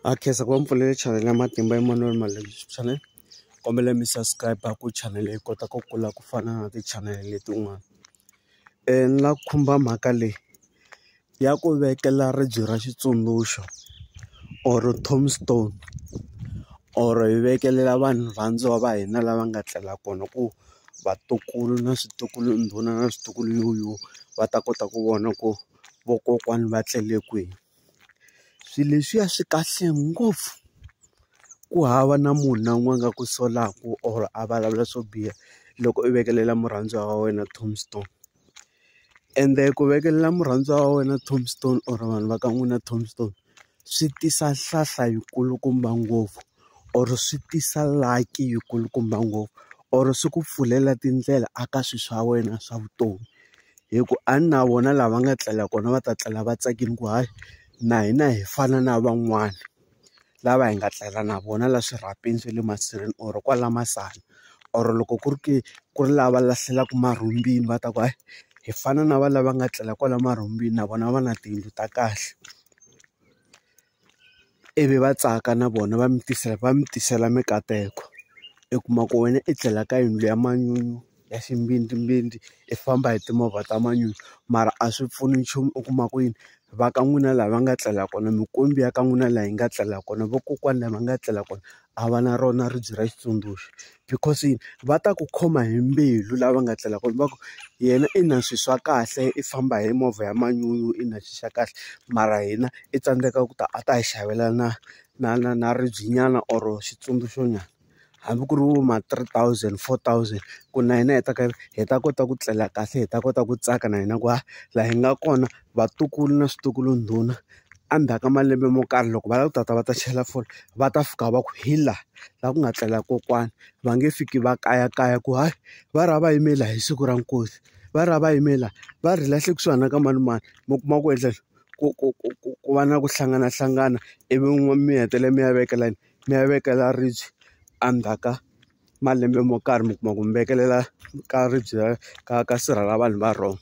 Ha khensa ku va mi pfulele chanele ya Matimba Emmanuel Malebiso channel kombela mi subscribe ku chanele yi kota ku kula ku fana na tichanele letin'wana ni la ku khumba mhaka leyi ya ku vekela ribye ra xitsundzuxo or tombstone or hi vekelela vanhu varhandziwa va hina lava nga tlela kona ku vatukulu na switukulu ndhuna na switukulu yuyuwana va ta kota ku vona ku vokokwani va tlele kwihi. Swilo leswiya swi kahle ngopfu, ku hava na munhu na un'wana a nga ku solaka or a vulavula swo biha loko u vekelela murhandziwa wa wena tombstone. Ende ku vekelela murhandziwa wa wena tombstone or vanhu va ka n'wina tombstone, swi tisa hlahla yi kulukumba ngopfu. or swi tisa lucky yi kulukumba ngopfu or swi ku pfulela tindlela a ka swilo swa wena swa vutomi hi ku a ni na vona lava nga tlela kona va ta tlela va tsakile ku hayi na hina hi fana na van'wana lava hi nga tlela na vona laha swirhapeni swa le masirheni or kwala masana or loko ku ri ke ku ri lava lahlelaka marhumbini va ta ku hayi hi fana na va lava nga tlela kwala marhumbini na vona va na tiyindlu ta kahle. ivi va tsaka na vona va mi tisela va mi tisela mikateko. I kuma ku wena i tlela ka yindlu ya manyunyu ya ximbidimbindi, i famba hi timovha ta manyunyu mara a swi pfuni nchumu u kuma ku yini? Va ka n'wina laha va nga tlela kona, minkwembu ya ka n'wina laha yi nga tlela kona, vakokwana laha va nga tlela kona, a va na rona ribye ra xitsundzuxo because yini va ta ku khoma hi mbilu lava nga tlela kona va ku yena i na swilo swa kahle i famba hi movha ya manyunyu i na swilo swa kahle mara hina i tsandzeka ku ta a ta hi xavela na na na na ribye nyana or xitsundzuxo nyana hambi ku ri vo ma three thousand four thousand ku na hina hi ta ka hi ta kota ku tlela kahle hi ta kota ku tsaka na hina ku ha laha hi nga kona vatukulu na switukulu ndhuna. endzhaku ka malembe mo karhi loko va lava ku ta ta va ta chela fole va ta fika va ku hi laha laha ku nga tlela kokwani va nge fiki va kayakaya ku hayi va ra va yime laha hi siku ra nkosi va ra va yime laha va ri hi lahle kusuhana ka manimani mi kuma ku endla yini ku ku ku ku ku va na ku hlanganahlangana ivi mi hetelela mi ya vekela yini mi ya vekela ribye endzhaku ka. malembe mo karhi mi kuma ku mi vekelela ka ribye ra ka ka sirha ra vanhu va wrong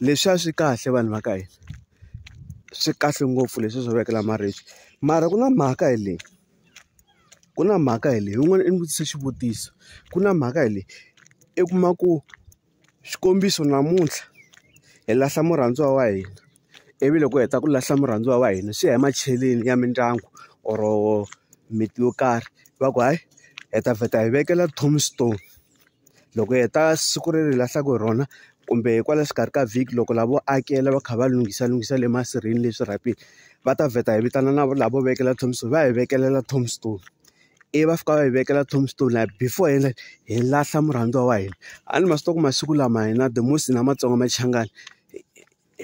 leswiya swi kahle vanhu va ka hina swi kahle ngopfu leswi swo vekela maribye mara ku na mhaka hi leyi ku na mhaka hi leyi yin'wana i ni vutise xivutiso ku na mhaka hi leyi i kuma ku. Xikombiso namuntlha hi lahla murhandziwa wa hina ivi loko hi heta ku lahla murhandziwa wa hina swi ya hi macheleni ya mindyangu or miti yo karhi va ku hayi hi ta vheta hi vekela tombstone loko hi heta siku leri hi lahlaka hi rona kumbe kwala xikarhi ka vhiki loko lavo akela va kha va lunghisa lunghisa le masirheni leswi rhapeni va ta vheta hi vitana na lavo vekela tombstone va hi vekelela tombstone. ivi va fika va hi vekela tombstone laha before hi endla hi lahla murhandziwa wa hina a ni ma swi tiva ku masiku lama hina the most hina Matsonga Machangani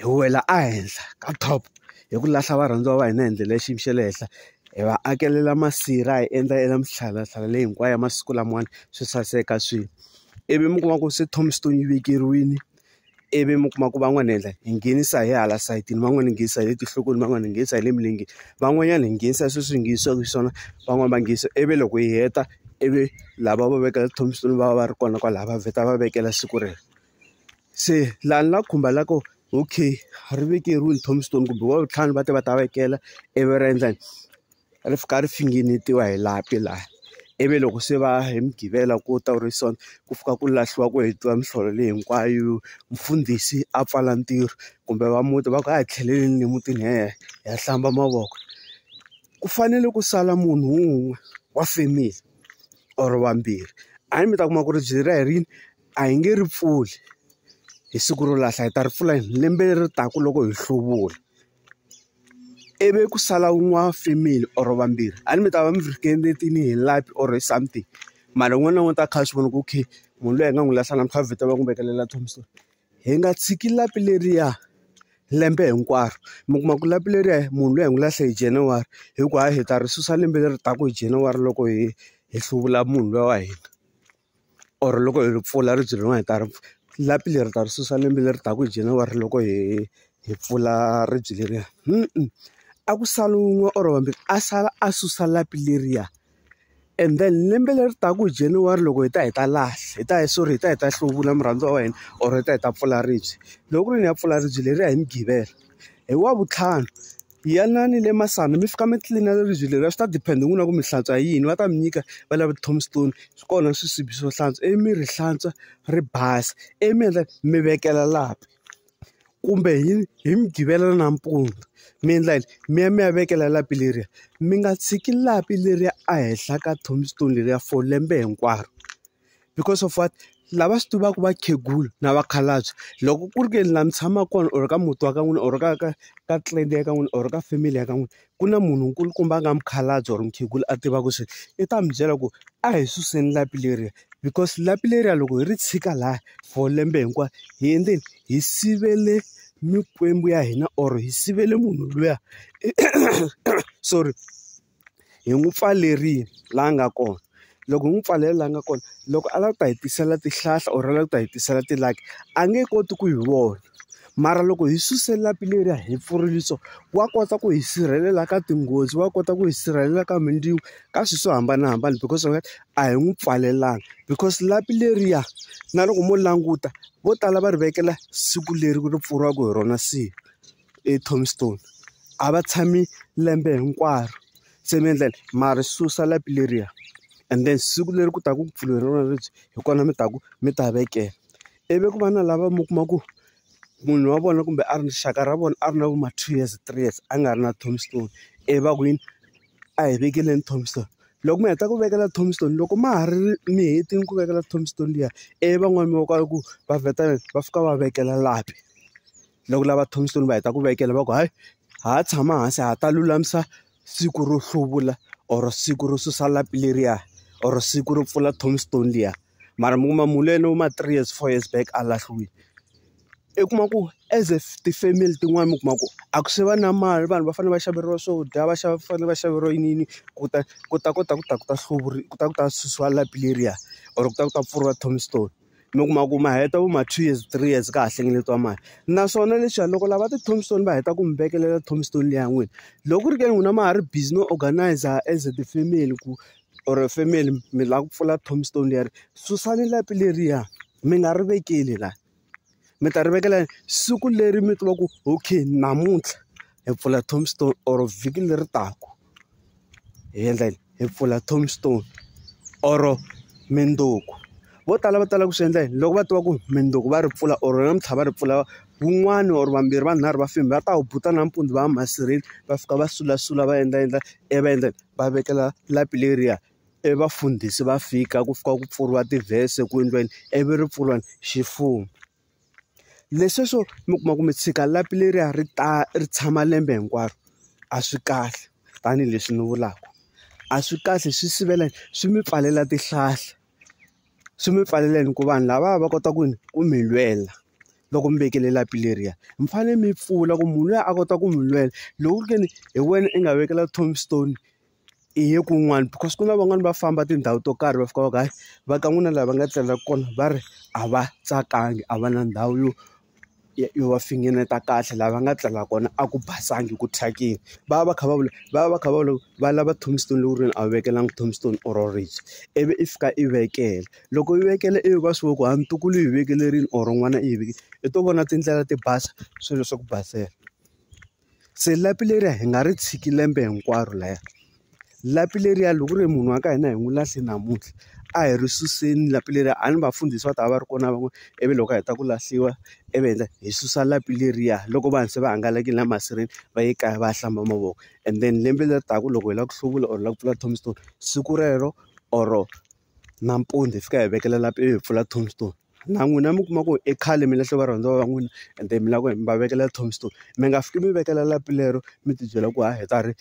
hi wela ehenhla ka top hi ku lahla varhandziwa va hina hi ndlela ya xiyimo xa le henhla hi va akelela masirha hi endla ya mihlalahlala leyi hinkwayo ya masiku lamawani swi saseka swilo ivi mi kuma ku se tombstone yi vekeriwini. ivi mi kuma ku van'wana hi endla hi nghenisa hi hala sayitini van'wana hi nghenisa hi le tinhlokweni van'wana hi nghenisa hi le milenge van'wanyana hi nghenisa sweswi hi nghenisiwaka hi swona van'wani va nghenisa ivi loko hi heta ivi lava va vekela tithomisoni va va va ri kona kwalaho va vheta va vekela siku rero se laha ni la khumba la ko okay ri vekeriwini tombstone kumbe va vutlhanu va te va ta vekela ivi ra endla yini. ri fika ri finingetiwa hi lapi laha ivi loko se va hi mugqivela ku ta ri so ku fika ku lahliwa ku hetiwa mihlolo leyi hinkwayo mfundhisi a pfala ntirho kumbe va muti va ku a hi tlheleleni le mutini hi ya hi ya hlamba mavoko ku fanele ku sala munhu wun'we wa family or vambirhi a hi mi ta kuma ku ri byi ra hi rini a hi nge ri pfuli hi siku ro lahla hi ta ri pfula hi lembe leri taka loko hi hluvula. i vi ku sala n'wana female or vambirhi a ni mi ta va mi ringetile hi light or something mara un'wana na un'wana u ta va a kha a swi vona ku okay munhu loyi hi nga n'wi lahla namuntlha vheta va n'wi vekelela tombstone hi nga tshiki lapi leriya lembe hinkwaro mi kuma ku lapi leriya munhu loyi hi n'wi lahle hi January hikuva hi ta ri susa lembe leri taka hi January loko hi hi hluvula munhu loyi wa hina. or loko hi ri pfula ribye rin'wana hi ta ri lapi leri ta ri susa lembe leri taka hi January loko hi hi pfula ribye leriya a ku sala wun'we or vambirhi a sala a susa lapi leriya and then lembe leri taka hi January loko hi ta hi ta lahla hi ta hi sorry hi ta hi ta hluvula murhandziwa wa hina or hi ta hi ta pfula ribye loko ku ri ni ya pfula ribye leriya hi mugqivela hi wavutlhanu. Yanani le Masana mi fika mi tlilina ribye leriya swi ta depend hi n'wina na ku mi hlantswa hi yini va ta mi nyika va lava ti-tombstone swi kona swisibi swo hlantswa ivi mi ri hlantswa ri basa ivi mi endla mi vekela lapi kumbe hi hi mugqivela nampundzu mi endla yini mi ya mi ya vekela lapi leriya mi nga tshiki lapi leriya ehenhla ka tombstone leriya for lembe hinkwaro. because of what lava swi tivaka vakhegula na vakhalabye loko ku ri ke ni laha mi tshamaka kona or ka muti wa ka n'wina or ka ka ka clan ya ka n'wina or ka family ya ka n'wina ku na munhu nkulukumba a nga mukhalabye or mukhegula a tivaka swilo i ta mi byela ku a hi suseni lapi leriya because lapi leriya loko hi ri tshika lahaya for lembe hinkwaro hi endleni hi sivele mikwembu ya hina or hi sivele munhu luya sorry. hi n'wi pfalerile laha a nga kona loko hi n'wi pfalele laha nga kona loko a lava ku ta hi tisela tihlahla or a lava ku ta hi tisela ti-lucky a nge koti ku hi vona mara loko hi suse lapi leriya hi pfurile so wa kota ku hi sirhelela ka tinghozi wa kota ku hi sirhelela ka mindzilo ka swilo swo hambanahambana because of a hi n'wi pfalelanga because lapi leriya na loko mo languta vo tala va ri vekela siku leri ri pfuriwaka hi rona siku. eTombstone a va tshami lembe hinkwaro se mi endla yini ma ri susa lapi leriya and then siku leri ku taka ku pfuriwa hi rona lebyi hi kona mi ta ku mi ta vekela ivi ku va na lava mi kuma ku munhu wa vona kumbe a ri rixaka ra vona a ri na vo ma two years three years a nga ri na Tombstone ivi va ku yini a hi vekeleni Tombstone loko mi heta ku vekela Tombstone loko ma ha ri mi hetile ku vekela Tombstone liya ivi van'wani va ku va vheta va fika va vekela lapi. loko lava thomisile va heta ku vekela va ku hayi ha ha tshama hansi ha ta lulamisa siku ro hluvula or siku ro susa lapi leriya or siku ro pfula tombstone liya mara mi kuma munhu luya no ma three years four years back a lahliwile i kuma ku as a ti-family tin'wani mi kuma ku a ku se va na mali vanhu va fanele va xaveriwa swo dya va xava fanele va xaveriwa yini yini ku ta ku ta kota ku ta ku ta hluvuriwa ku ta ku ta susiwa lapi leriya or ku ta ku ta pfuriwa tombstone. mi kuma ku ma heta vo ma two years three years ka ha hlengeletiwa mali naswona leswiya loko lava ti tombstone va heta ku mi vekelela tombstone leyi ya n'wina loko ku ri ke n'wina ma ha ri busy no organize as a ti-family ku or family mi lava ku pfula tombstone leri susani lapi leriya mi nga ri vekeli laha. mi ta ri vekela siku leri mi tivaku okay namuntlha hi pfula tombstone or vhiki leri taka hi endla yini hi pfula tombstone or mindzuku vo tala va tala ku swi endla yini loko va tiva ku mindzuku va ri pfula or namuntlha va ri pfula wun'wani or vambirhi vanharhu va family va ta wu buta nampundzu va ya masirheni va fika va sulasula va endla endla ivi va endla va vekela lapi leriya. e vafundhisi va fika ku fika ku pfuriwa tivhese ku endliweni ivi ri pfuriwa ni ximfumo leswi swo mi kuma ku mi tshika lapi leriya ri ta ri tshama lembe hinkwaro a swi kahle tanihileswi ni vulaka a swi kahle swi sivela swi mi pfalela tihlahla swi mi pfalela yini ku vanhu lavaya va kota ku yini ku mi lwela loko mi vekele lapi leriya mi fanele mi pfula ku munhu luya a kota ku mi lwela loko ku ri ke ni hi wena i nga vekela tombstone. hi ye kun'wana because ku na van'wani va famba tindhawu to karhi va fika va ku hayi va ka n'wina laha va nga tlelaka kona va ri a va tsakanga a va na ndhawu yo yo va finengeta kahle laha va nga tlela kona a ku basanga ku thyakile va va va kha va vula va va va kha va vula va lava tombstone lowunene a wu vekelaka tombstone or ribye ivi i fika i vekela loko i vekela ivi va swi vona ku hayi ntukulu u yi vekelerile or n'wana i yi vekile i to vona tindlela ti basa swilo swa ku basela. Se lapi leriya hi nga ri tshiki lembe hinkwaro lahaya. Lapi leriya loko ku ri munhu wa ka hina hi n'wi lahle namuntlha, a hi ri suseni lapi leriya. A ni vafundhisi va ta va va ri kona na van'wana, ivi loko a heta ku lahliwa ivi hi endla hi susa lapi leriya. Loko vanhu se va hangalakile na masireni va ye kaya va ya hlamba mavoko and then lembe leri taka loko hi lava ku hluvula or hi lava ku pfula tombstone, siku rero or-o nampundzu hi fika hi vekela lapi ivi hi pfula tombstone. na n'wina mi kuma ku i khale mi lahle varhandziwa va n'wina ende mi lava ku mi va vekela tombstone mi nga fiki mi vekela lapi lero mi tibyela ku ha hi ta ri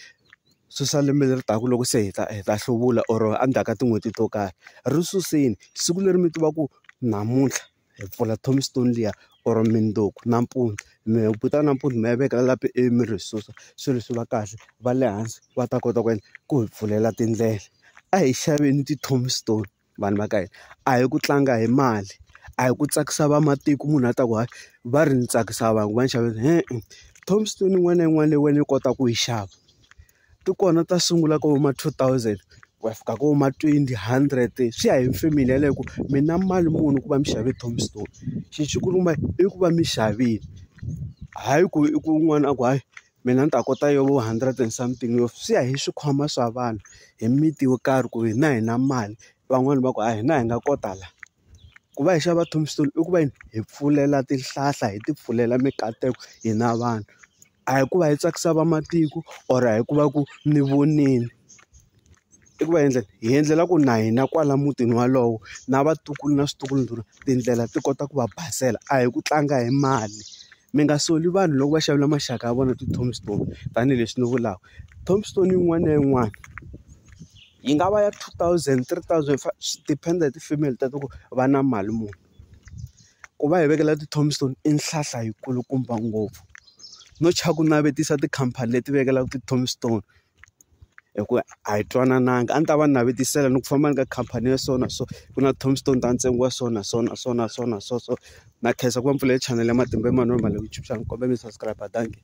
susa lembe leri taka loko se hi ta hi ta hluvula or endzhaku ka tin'hweti to karhi ri suseni siku leri mi tiva ku namuntlha hi pfula tombstone liya or mundzuku nampundzu mi heta nampundzu mi ya veka lapi ivi mi ri susa swilo swi va kahle va le hansi va ta kota ku ku hi pfulela tindlela a hi xaveni ti-tombstone. vanhu va ka hina a hi ku tlanga hi mali a hi ku tsakisa vamatiko munhu a ta ku hayi va ri ni tsakisa vanhu va ni xavela e-e tombstone yin'wana na yin'wana leyi wena yi kotaka ku yi xava ti kona ta sungula ka vo ma two thousand ku ya fika ka vo ma twenty hundred swi ya hi family yeleyo ku mi na mali muni ku va mi xave tombstone xi xikulukumba i ku va mi xavile hayi ku i ku un'wana a ku hayi. mina ni ta kota yo vo hundred and something yo swi ya hi swikhwama swa vanhu hi miti yo karhi ku hina hi na mali van'wani va ku a hina hi nga kota la ku va hi xava tombstone i ku va hi pfulela tihlahla hi ti pfulela mikateko hina vanhu a hi ku va hi tsakisa vamatiko or a hi ku va ku ni vonile. I ku va endlela hi endlela ku na hina kwala mutini wolowo na vatukulu na switukulwana tindlela ti kota ku va basela a hi ku tlanga hi mali mi nga soli vanhu loko va xavela maxaka ya vona ti-tombstone tanihileswi ni vulaka tombstone yin'wana na yin'wana yi nga va ya two thousand three thousand five swi depend hi tifemeli ta ku va na mali muni ku va hi vekela ti-tombstone i nhlahla yi kulukumba ngopfu no tshwa ku navetisa tikhampani leti vekelaka ti-tombstone. hi ku a hi twanananga a ndzi ta va navetisela ni ku famba ni ka khampani ya so na so ku na tombstone ta ntsengo wa so na so na so na so na so so na khensa ku va ni pfulele chanele ya matimba Emmanuel Malemutshuxana ni kombela mi subscribe thank you.